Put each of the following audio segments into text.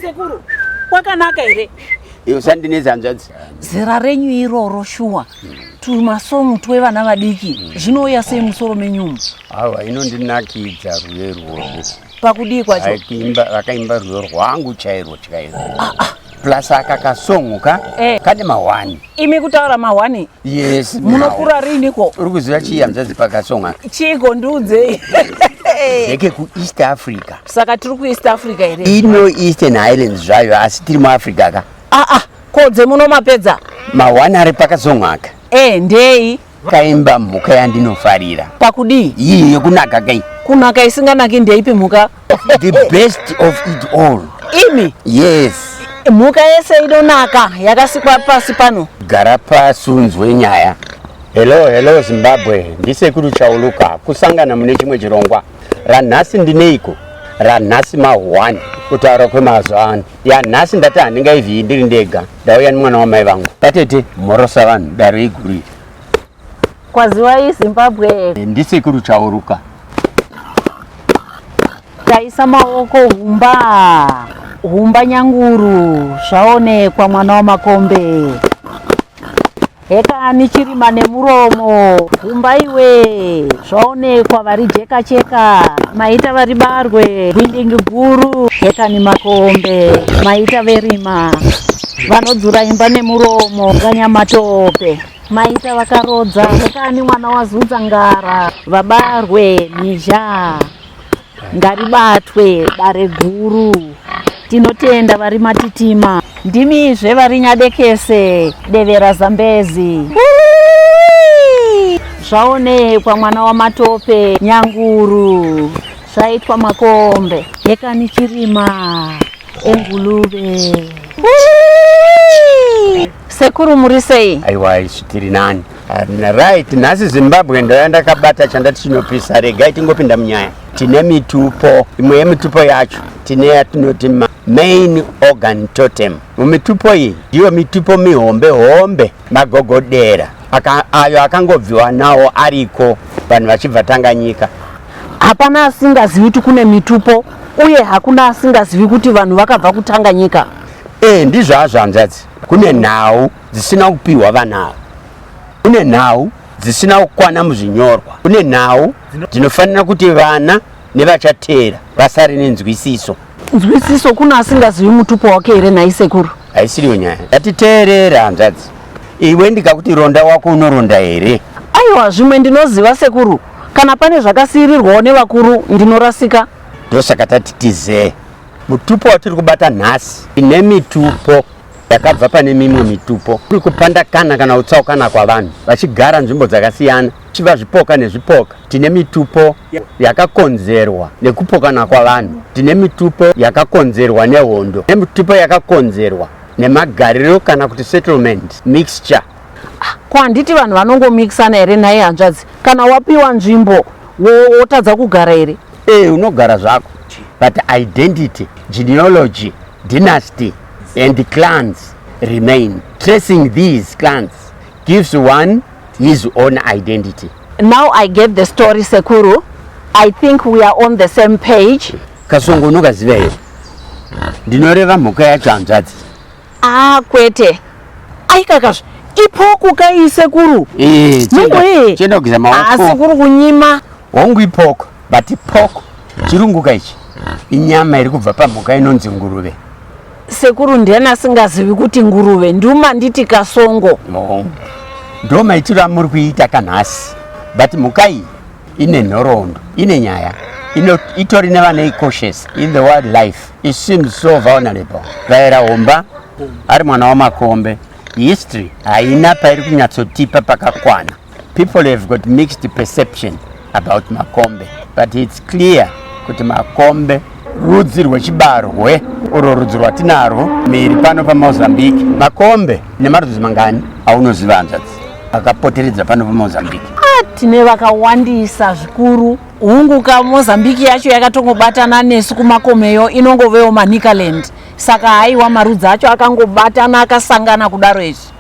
sekuru kwakanaka here iyo sandinezi hanzvadzi zera renyu iroro shuwa tumasongu twevana vadiki zvinouya sei musoro menyumu awa inondinakidza rwuye rworwo pakudii kwacho vakaimba rwuyo rwangu chairwo chairwo ah, ah. plus aka kasongo ka eh. kane mahwani imi kutaura mahwani yes munokura riniko uri kuziva chii hanzvadzi pakasongo aka chiiko ndiudzei ndeke kueast africa saka tiri kueast africa here ino eastern highlands zvayo asi tiri muafrica ka aa ah, ah, ko dzemuno mapedza mahwani ari pakasongo aka e eh, ndei Kaimba mhuka yandinofarira. Pakudii? Iyi yekunaka kai. Kunaka isinganaki ndeipi mhuka? The best of it all. Imi? Yes. Mhuka yese inonaka yakasikwa pasi pano. Gara pasi unzwe nyaya. Hello, hello Zimbabwe. Ndisekuru Chauluka. Kusangana mune chimwe chirongwa. Ranhasi ndineiko? Ranhasi mahwani. Kutaura kwemazuva ano. ya nhasi ndati handingaiviyi ndiri ndega ndauya nemwana wamai vangu patete mhorosa vanhu dare iguri kwaziwai zimbabwe eh, ndisekuru chauruka taisa maoko humba humba nyanguru zvaonekwa mwana wamakombe Hekani chirima nemuromo gumba iwe zvaonekwa varijeka cheka maita varibarwe gwindingi guru hekani makombe maita verima vanodzura imba nemuromo ganyamatope maita vakarodza hekani mwana wazudza ngara vabarwe mhizha ngaribatwe dare guru tinotenda vari matitima ndimizve vari nyadekese devera zambezi zvaonekwa mwana wamatope nyanguru zvaitwa makombe yekani chirima engulube sekuru muri sei aiwa isu tiri nani Arina, right nhasi zimbabwe ndoya ndakabata chandati chinopisa regai tingopinda munyaya tine mitupo imwe yemitupo yacho tine yatinoti main organ totem mumitupo iyi ndiyo mitupo mihombe hombe magogodera aka, ayo akangobviwa nawo ariko vanhu vachibva tanganyika hapana asingazivi kuti kune mitupo uye hakuna asingazivi kuti vanhu vakabva kutanganyika e eh, ndizvo azvo hanzvadzi kune nhau dzisina kupihwa vana ava kune nhau dzisina kukwana muzvinyorwa kune nhau dzinofanira kuti vana nevachateera vasare nenzwisiso nzwisiso kuna asingazivi mutupo wake here nhai sekuru haisiriyo nyaya yatiteerere hanzvadzi iwe ndikakuti ronda wako unoronda here aiwa zvimwe ndinoziva sekuru kana pane zvakasiyirirwawo nevakuru ndinorasika ndosaka tati tizee mutupo watiri kubata nhasi ine mitupo yakabva pane mimwe mitupo kuri kupandakana kana kutsaukana kwavanhu vachigara nzvimbo dzakasiyana chiva zvipoka nezvipoka tine mitupo yakakonzerwa nekupokana kwavanhu tine mitupo yakakonzerwa nehondo nemitupo yakakonzerwa nemagariro kana kuti settlement mixture ah, ko handiti vanhu vanongomixana here nhai hanzvadzi kana wapiwa nzvimbo wotadza kugara here ee eh, unogara zvako but identity genealogy dynasty and the clans remain tracing these clans gives one his own identity now i get the story sekuru i think we are on the same page kasongo unokaziva here ndinoreva mhuka yacho hanzvadzi ah kwete aikakazve ipoko kaisekuru eh, chenda kugeza maoko asi kuri kunyima hongu ipoko But pork chirunguka ichi inyama iri kubva pamhuka inonzi nguruve. Sekuru ndiani asingazivi kuti nguruve nduma nditi kasongo. No. Ndo maitiro amuri kuita kanhasi. But mhuka iyi ine nhoroondo, ine nyaya. Ino itori nevanei cautious in the wildlife. It seems so vulnerable. Vaera homba ari mwana wamakombe. History haina pairi kunyatsotipa pakakwana. People have got mixed perception about makombe but it's clear kuti makombe rudzi rwechibarwe urwo rudzi rwatinarwo miri pano pamozambique makombe nemarudzi mangani aunoziva hanzvadzi akapoteredza pano pamozambique ah, tine vakawandisa zvikuru hungu ka mozambique yacho yakatongobatana nesu kumakomeyo inongovewo manicaland saka haiwa marudzi acho akangobatana akasangana kudaro izvi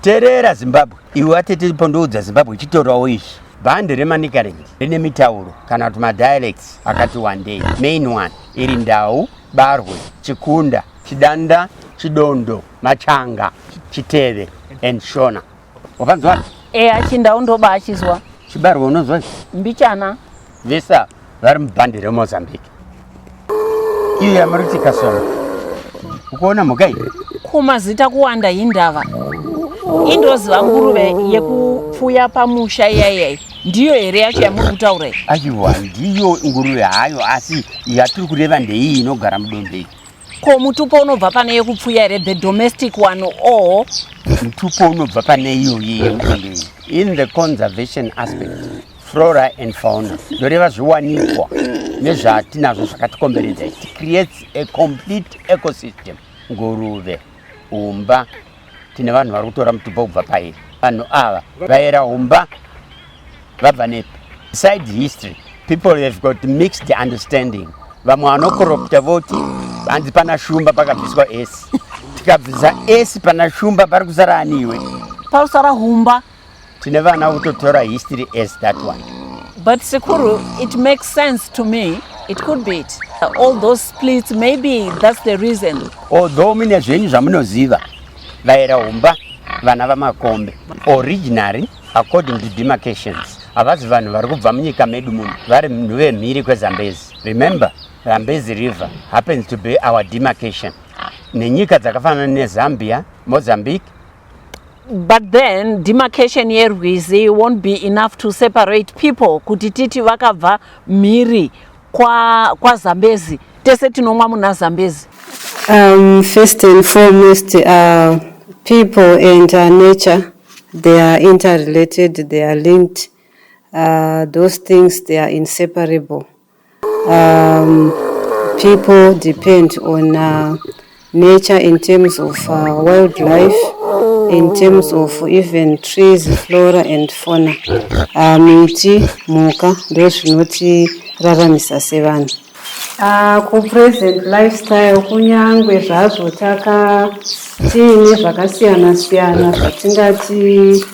Terera Zimbabwe iwe watete pondoudza Zimbabwe chitorawo ichi bhande remanicaland rine mitauro kana kuti madialects akati wandei main one iri ndau barwe chikunda chidanda chidondo machanga chiteve and shona wakanzwa eya chindau ndoba achizwa chibarwe unonzwa mbichana vesa vari mubhandi remozambique iyo yamuri kuti kasona ukuona mhuka iyi kumazita kuwanda hindava indoziva nguruve yekupfuya pamusha iyaiyai ndiyo here yacho yamuri kutaura iyi aiwa ndiyo nguruve hayo asi yatiri kureva ndeiyi inogara mudombei ko mutupo unobva pane yekupfuya here the domestic one or mutupo unobva pane iyoyi yemudombei in the conservation aspect flora and fauna zvoreva zviwanikwa nezvatinazvo zvakatikomberedza it creates a complete ecosystem nguruve umba tine vanhu vari kutora mutupo kubva pairi vanhu ava vaera umba vabva nepi side history people have got mixed understanding vamwe vanokoropta voti hanzi pana shumba pakabviswa esi tikabvisa esi pana shumba pari kusara aniwe pausara humba tine vana kutotora history as that one but sekuru it makes sense to me it could be it all those splits maybe that's the reason although mine zvenyu zvamunoziva vaera humba vana vamakombe originary according to demarcations havazi vanhu vari kubva munyika medu muno vari munhu vemhiri kwezambezi remember zambezi river happens to be our demarcation nenyika dzakafanana nezambia mozambique But then demarcation yerwizi won't be enough to separate people kuti titi vakabva mhiri kwazambezi kwa tese tinomwa muna zambezi um, first and foremost uh, people and uh, nature they are interrelated they are linked uh, those things they are inseparable Um, people depend on uh, nature in terms of uh, wildlife, in terms of even trees, flora and fauna. Uh, miti, muka, those not raramisa sevanhu. Uh, ku present lifestyle kunyangwe zvazvo taka tiine zvakasiyana siyana zvatingati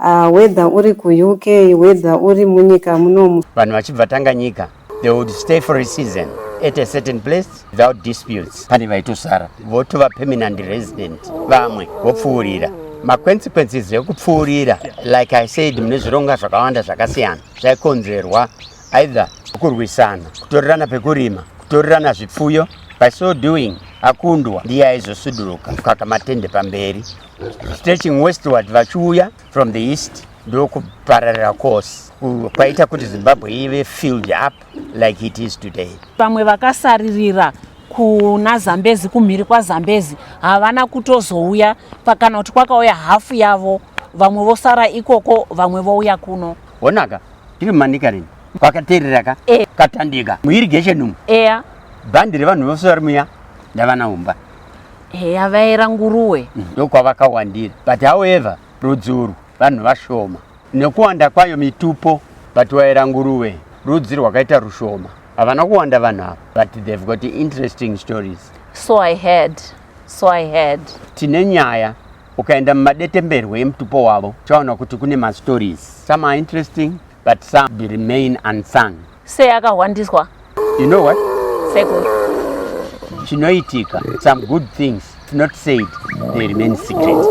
Uh, whether uri kuUK, whether uri munyika munomu. Vanhu vachibva Tanganyika, they would stay for a season at a certain place without disputes. Pane vaitosara votova permanent resident, vamwe vopfuurira maconsequences ekupfuurira like i said mune zvironga zvakawanda zvakasiyana zvaikonzerwa either kurwisana kutorerana pekurima kutorerana zvipfuyo by so doing akundwa ndiye aizosuduruka kukaka matende pamberi stretching westward vachiuya from the east ndokupararira course kwaita kuti zimbabwe ive filled up like it is today vamwe vakasaririra kuna zambezi kumhiri kwazambezi havana kutozouya kana kuti kwakauya hafu yavo vamwe vosara ikoko vamwe vouya kuno onaka tiri manika rini kwakaterera ka e. katandika muirigation umu eya bhandi revanhu vose vari muya ndavanaumba heya vaera nguruwe mm, ndokwavakawandira but however rudzi urwu vanhu vashoma nekuwanda kwayo mitupo but vaera nguruwe rudzi rwakaita rushoma havana kuwanda vanhu ava but they've got interesting stories so i heard so i heard tine nyaya ukaenda mumadetemberwe emutupo wavo chaona kuti kune mastories some are interesting But some be remain unsung. Sei akahwandiswa? You know what? Sekuru. Chinoitika, some good things not said, they remain secret.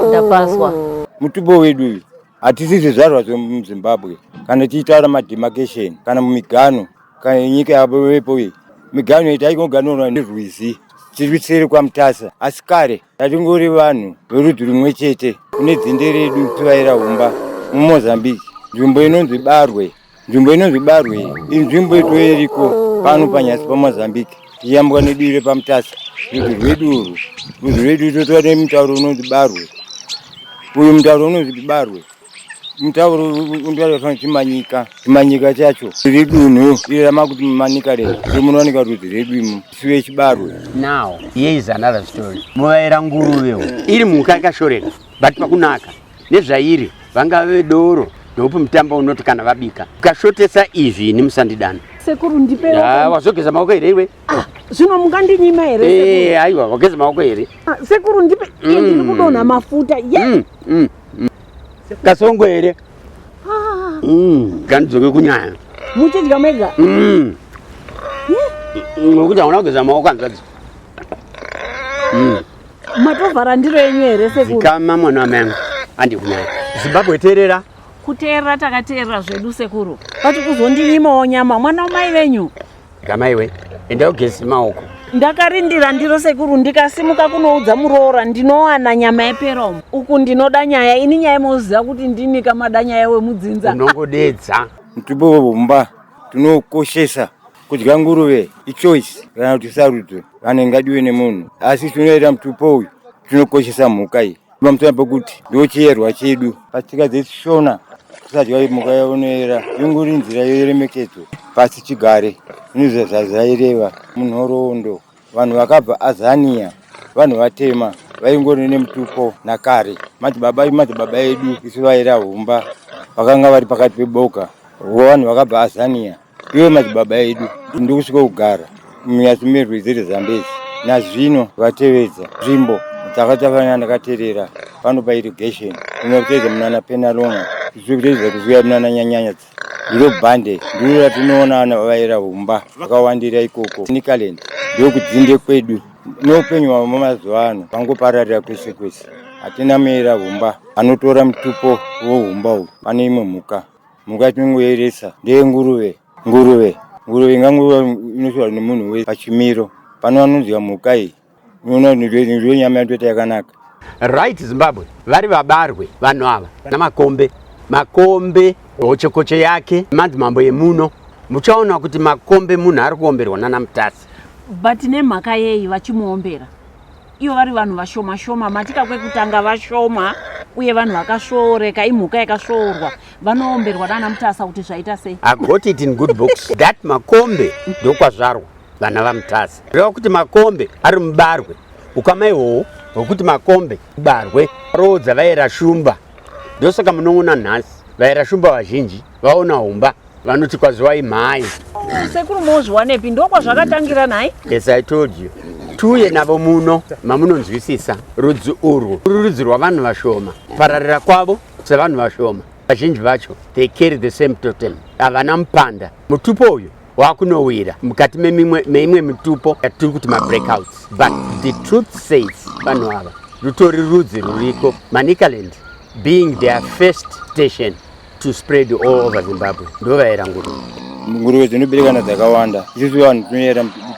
Ndapaswa. Mutupo wedu uyu hatisi zvizvarwa zvemuzimbabwe kana tichitaura mademarcation kana mumigano kana nyika yavepo iyi migano itaikoganoa nerwizi tiri seri kwamutasa asi kare Tatingori vanhu verudzi rumwe chete kune dzinde redu tivaira humba mumozambique nzvimbo inonzi barwe nzvimbo inonzi barwe inzvimbo itoeriko pano panyasi pamozambique tiyambwa neduvi repamutasa rudzi rwedu urwu rudzi rwedu totova nemutauro unonzi barwe uyu mutauro unonzi barwe mutauro undivaria kuti chimanyika chimanyika chacho iri dunhu iri ramakuti manika re rimunowanika rudzi redu imo siwe chibarwe now here is another story muvaira nguruvewo iri mhuka ikashoreka but pakunaka nezvairi vangave doro ndokupi mutambo unoti kana vabika ukashotesa izvi ini musandidana sekuru ndipe wazogeza maoko here iwe Ah, zvino mungandinyima here Eh, sekuru? haiwa wageza maoko here Ah, sekuru ndipe iye ndiri kudonha mafuta ye Mm, mm, mm. kasongo here Ah, Mm, ganidzoke kunyaya muchidya mega Mm. Mm, nokuti hauna kugeza maoko hanzvadzi matovhara ndiro yenyu here sekuru zikama mwana wamanga andikunyaya zimbabwe terera kuteerera takateerera zvedu sekuru vati kuzondinyimawo nyama mwana wamai venyu Gamaiwe, enda ugeze maoko. Ndakarindira ndiro sekuru ndikasimuka kunoudza muroora ndinowana nyama yeperomo. Uku ndinoda nyaya ini nyaya moziva kuti ndini kamada nyaya wemudzinza. Unongodedza. Mtibomba tinokoshesa kudya nguruve ichoice kana kuti sarudzo vanenge ngadiwe nemunhu asi tinoita mutupo uyu tinokoshesa mhuka iyi Vamutana pakuti ndochiyerwa chedu patsika dzechishona tisadya mhuka yaonoera inguri nzira yeremekedzo pasi chigare inozvazvaireva munhoroondo vanhu vakabva azania vanhu vatema vaingori nemutupo nakare madzibaba madzibaba edu isu vaira humba vakanga vari pakati peboka vanhu vakabva azania iwe madzibaba edu ndikusvika kugara munyasi merwizi rezambezi nazvino vatevedza nzvimbo dzakatafanira ndakaterera panopa irrigation inoteedza munana penalonga zviri kuteedza kuziva munana nyanyanya ndiro bhande ndiro ratinoona vana vavaera humba vakawandira ikoko nicaland ndokudzinde kwedu noupenyu hwavo mamazuva ano vangopararira kwese kwese hatina meera humba anotora mutupo wohumba uhu pane imwe mhuka Mhuka yatinongoyeresa ndeyenguruve. Nguruve nguruve inganguva inoshora nemunhu wese pachimiro pano vanonzwa mhuka iyi unoona ndiyo nyama yatoita yakanaka. Right Zimbabwe vari vabarwe vanhu ava namakombe makombe hochekoche yake madzimambo yemuno muchaona kuti makombe munhu ari kuomberwa nana mutasi but nemhaka yei vachimuombera ivo vari vanhu vashoma shoma matika kwekutanga vashoma uye vanhu vakasvooreka imhuka yakasvoorwa vanoomberwa nana mutasa kuti zvaita sei i got it in good books that makombe ndokwazvarwa vana vamutasa reva kuti makombe ari mubarwe ukama ihwohwo hwekuti makombe mubarwe roodza vaera shumba ndosaka munoona nhasi vaera shumba vazhinji vaona humba vanoti kwaziwai mhai sekuru mozviwanepi ndokwazvakatangira nhai yes i told you tiuye navo muno mamunonzwisisa rudzi urwu uri rudzi rwavanhu vashoma pararira kwavo sevanhu vashoma vazhinji vacho they carry the same totem havana mupanda mutupo uyu wakunowira mukati meimwe mitupo yatiri kuti mabreakouts but the truth says vanhu ava rutori rudzi ruriko manicaland being their first station to spread all over Zimbabwe ndovaera nguruve nguruve dzinoberekana dzakawanda isusu vanhu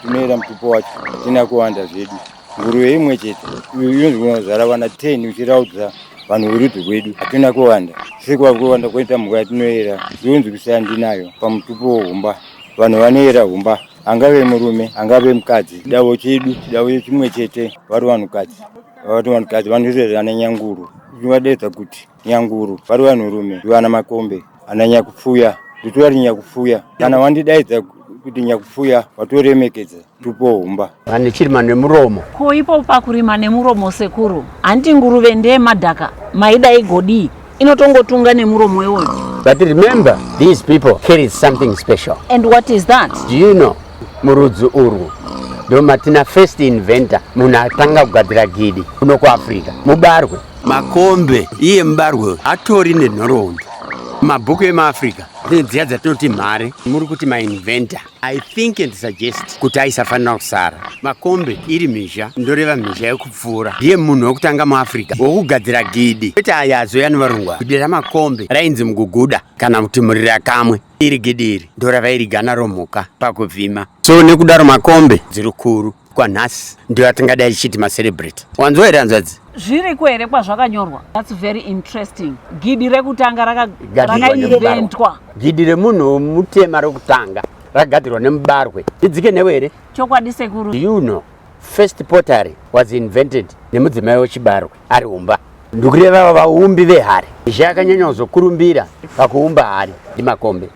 tinoera mutupo wacho tina kuwanda zvedu nguruve imwe chete inozvara vana 10 uchiraudza vanhu verudzi rwedu hatina kuwanda sekuva kuwanda kwoita mhuka yatinoera zvionzi kusiya ndinayo pamutupo wohumba vanhu vanoera humba angave murume angave mukadzi chidavo chedu chidavo chimwe chete vari vanhukadzi vati vanhukadzi vanozoerana nyanguru zvivadeedza kuti nyanguru vari vanhurume vana makombe ana nyakupfuya nditori nyakupfuya kana wandidaidza kuti nyakupfuya watoremekedza tupohumba vane chirima nemuromo ko ipo pakurima nemuromo sekuru hanti nguruve ndeye madhaka maida igodii inotongotunga nemuromo iwoyo but remember these people carry something special and what is that do you know murudzi urwu ndomatina first inventor munhu atanga kugadzira gidi kuno kuafrica mubarwe makombe iye mubarwe uyu atori nenhoroondo mabhuku emaafrica dzine dziya dzatinoti mhare muri kuti mainventa i think and suggest kuti aisafanira kusara makombe iri mhizha ndoreva mhizha yekupfuura ndiye munhu wekutanga muafrica wokugadzira gidi kwete aya azoya nevarungwa gidi ramakombe rainzi muguguda kana kuti murira kamwe iri gidi iri ndoravairiga naro mhuka pakuvhima so nekudaro makombe dziri kuru kwanhasi ndiyo atingada ichiti macelebrate wanzwa here hanzvadzi zviriko here kwazvakanyorwa thats very interesting gidi rekutanga rakaiventwa gidi remunhu mutema rekutanga rakagadzirwa nemubarwe idzike newe here chokwadi sekuru you know first pottery was invented nemudzimai wechibarwe ari umba ndikureva vaumbi vehari izhe akanyanya kuzokurumbira pakuumba hari ndimakombe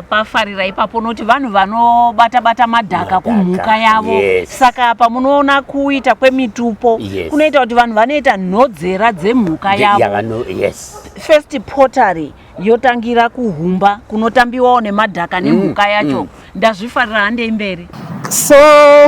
pafarira ipapo unoti vanhu vanobata bata madhaka kumhuka yavo yes. saka pamunoona kuita kwemitupo yes. kunoita kuti vanhu vanoita nhodzera dzemhuka yavo yes. first pottery yotangira kuhumba kunotambiwawo nemadhaka nemhuka mm, yacho mm. ndazvifarira handei mberi so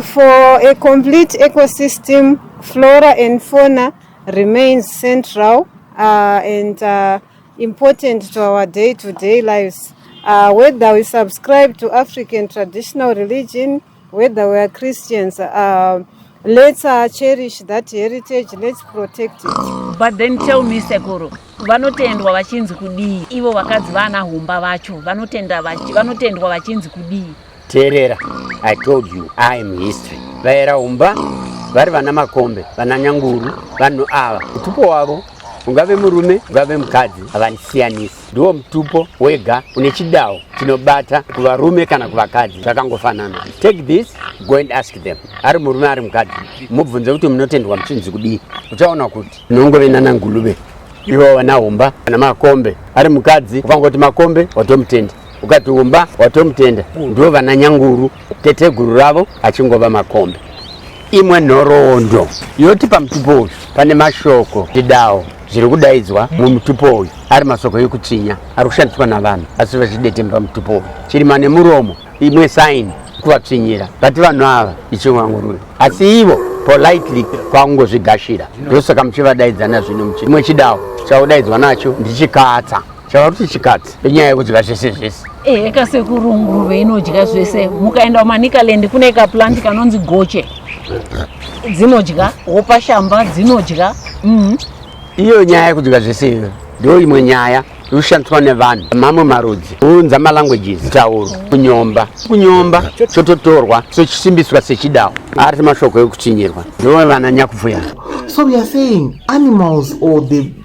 for a complete ecosystem flora and fauna remains central uh, and uh, important to our day to day lives uh, whether we subscribe to african traditional religion whether we are Christians, uh, let's uh, cherish that heritage, let's protect it. But then tell me sekuru, vanotendwa vachinzi kudii? Ivo vakadzi vana humba vacho vanotenda vachi, vanotendwa vachinzi kudii? Terera, I told you I am history. Vaera humba vari vana makombe, vana nyanguru, vanhu ava utupo wavo ungave murume ungave mukadzi havandisiyanisi Ndiwo mutupo wega une chidawo chinobata kuvarume kana kuvakadzi zvakangofanana. Take this, go and ask them. Ari murume ari mukadzi, mubvunze kuti munotendwa muchinzi kudii. Uchaona kuti unongove nana ngulube ivo vana humba kana makombe. Ari mukadzi ukangoti makombe watomutenda, ukati humba watomutenda. Ndiwo vana nyanguru. teteguru ravo achingova makombe imwe nhoroondo yoti pamutupo uyu pane mashoko ndidawo zviri kudaidzwa mumutupo uyu ari masoko yekutsvinya ari kushandiswa navanhu asi vachidetemba pamutupo uyu chirima nemuromo imwe saini kuvatsvinyira vati vanhu ava ichivangurura asi ivo politely kwakungozvigashira ndosaka muchivadaidzana zvino muchi imwe chidawo chaudaidzwa nacho ndichikatsa chava kuti chikati penyaya yekudya zvese zvese ehe ka sekuru nguruve inodya zvese mukaenda kumanicaland kune kaplanti kanonzi goche dzinodya hopa shamba dzinodya mm. iyo nyaya yekudya zvese iyo ndo imwe nyaya inoshandiswa nevanhu mamwe marudzi unza malanguages tauro kunyomba kunyomba chototorwa sochisimbiswa sechidawo ari mashoko ekuchinyirwa ndivo vana nyakupfuya so weare saying animals or the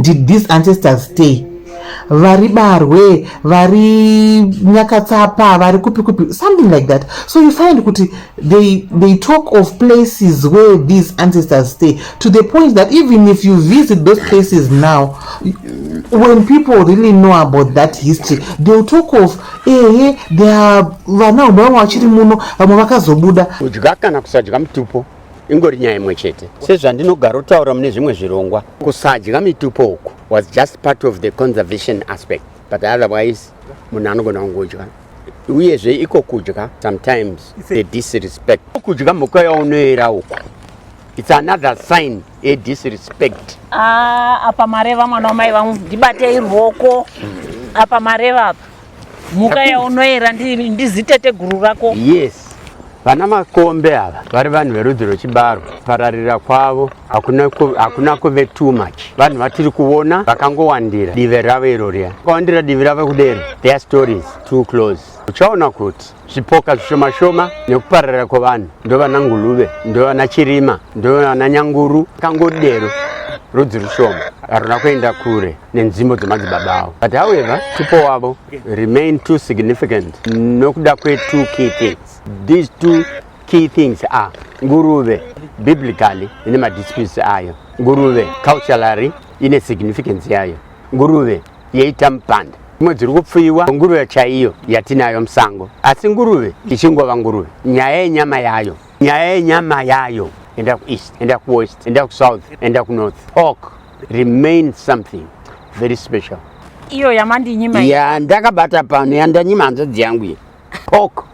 did these ancestors stay vari barwe vari nyakatsapa vari kupi kupi something like that so you find kuti they, they talk of places where these ancestors stay to the point that even if you visit those places now when people really know about that history theyll talk of ehe thea vana vamwe vachiri muno vamwe vakazobuda kudya kana kusadya mutupo ingori nyaya imwe chete sezvandinogarotaura mune zvimwe zvirongwa kusadya mitupo uku was just part of the conservation aspect but otherwise munhu anogona kungodya uyezve iko kudya sometimes the disrespect kudya mhuka yaunoera uku its another sign a disrespect ah, apa mareva mwana wamai vangu ndibatei ruoko apa mareva apa mhuka yaunoera ndizitete guru rako yes vana makombe ava vari vanhu verudzi rwechibaro pararira kwavo hakuna kuve too much vanhu vatiri kuona vakangowandira divi ravo iro riya vakawandira divi ravo kudero their stories too close uchaona kuti zvipoka zvishoma shoma nekupararira kwevanhu ndovana nguluve ndovana chirima ndovana nyanguru kangodero rudzi rushoma haruna kuenda kure nenzvimbo dzemadzibaba avo but however tupo wavo remain too significant nokuda kwetwo key things these two key things are nguruve biblically ine madisputes ayo nguruve culturally ine significance yayo nguruve yeita mupanda dzimwe dziri kupfuyiwa nguruve chaiyo yatinayo musango asi nguruve ichingova nguruve nyaya yenyama yayo nyaya yenyama yayo enda kueast enda kuwest enda kusouth enda kunorth pork remain something very special iyo yamandinyima ya ndakabata pano yandanyima hanzvadzi yangu iyi pork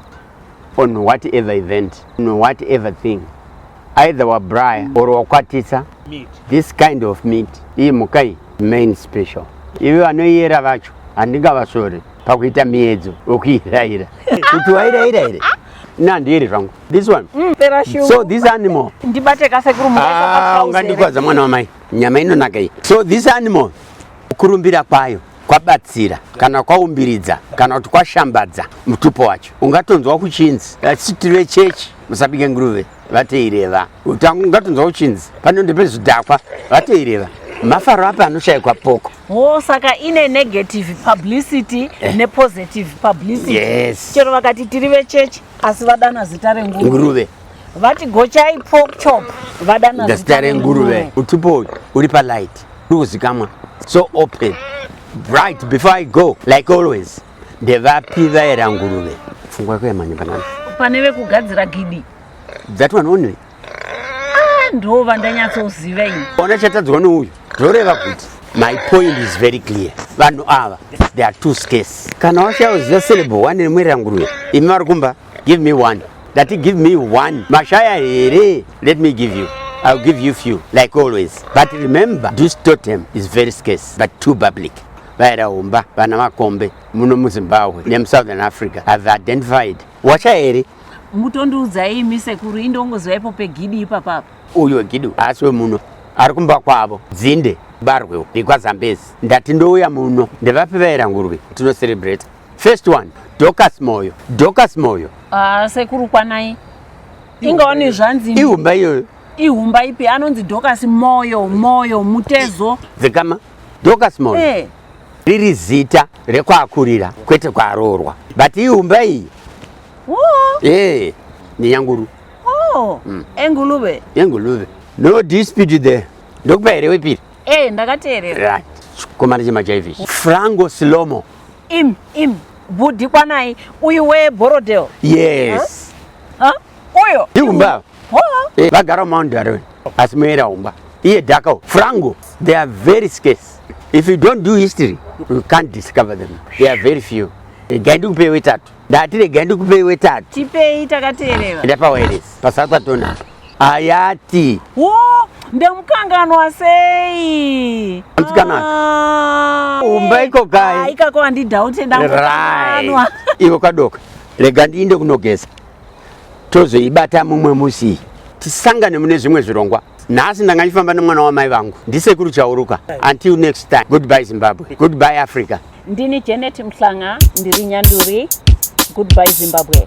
on whatever event on whatever thing either wabraya or wakwatisa meat. this kind of meat iyi mhuka iyi main special ivi vanoiyera vacho handingavasvore pakuita miedzo wekuiraira kuti wairaira here nandiiri zvangu this one mm, so this animal ndibate kasekuru ah, ungandikwadza mwana wamai nyama inonaka iyi so this animal Kurumbira kwayo kwabatsira kana kwaumbiridza kana kuti kwashambadza mutupo wacho ungatonzwa kuchinzi vachiti vechechi musabike nguruve vatoireva ungatonzwa kuchinzi panonde pezvidhakwa vatoireva mafaro api anoshayikwa poko wo saka ine negative publicity eh. nepositive publicity yes. chero vakati tiri vechechi asi vadana zita renguruve vati gochai pork chop vadana zita renguruve utipo uri palight uri kuzikamwa so open bright before i go like always ndevapi vaera nguruve pfungwa yako yamhanya panani pane vekugadzira gidi that one only ah, ndo vandanyatsoziva ini ona chatadzwa nouyu zvoreva kuti my point is very clear vanhu ava they are two scase kana washaya uziva syllable one remuera nguruve imi vari kumba give me one ndati give me one mashaya here let me give you I'll give you few like always but remember this totem is very scarce but too public vairaumba vana makombe muno muzimbabwe nemusouthern africa have identified wacha here mutondiudzai imi sekuru indongozwa ipo pegidi ipapapa uyo gidi haasi wemuno ari kumba kwavo dzinde barwewo rekwazambezi ndati ndouya muno ndevapi vaira ngurwi tinocerebrate First one, Dorcas Moyo. Dorcas Moyo. Ah, sekuru kwanai. Inga wani zvanzi. Ihumba iyoyo. Ihumba ipi anonzi Dorcas Moyo, Moyo, Mutezo. Dzikama. Dorcas Moyo. Eh. Riri zita rekwakurira kwete kwaroorwa. But ihumba iyi. Oh. Eh, ni yanguru. Oh. Mm. Engulube. Engulube. No dispute there. Ndokupa here wepiri? Eh, ndakateerera. Right. Chikomana chemachaivisi. Frango Silomo. Im, im, bhudhi kwanai, uyu we Borrowdale. Yes. Huh? Huh? Uyo. Ihumba. Ho. Eh, vagara Mount Darwin. Asi muera humba. Iye Dakao, Frango, they are very scarce. If you don't do history, you can't discover them. They are very few. Regai ndikupe wetatu. Ndati regai ndikupe wetatu. Tipei takateerera. Ndapawa eresi. Pasatwa tonaka. Hayati. Woo, ndemukanganwa sei? Msikana. Ah, Umba eh, iko kai? Ah, ikako handidaute ndamukanganwa. Iwe kadoka. Rega ndiinde kunogeza. Tozoibata mumwe musi. Tisangane mune zvimwe zvirongwa. nhasi ndanga ndifamba nemwana wamai vangu ndisekuru chauruka until next time goodbye zimbabwe goodbye africa ndini janet mhlanga ndiri nyanduri goodbye zimbabwe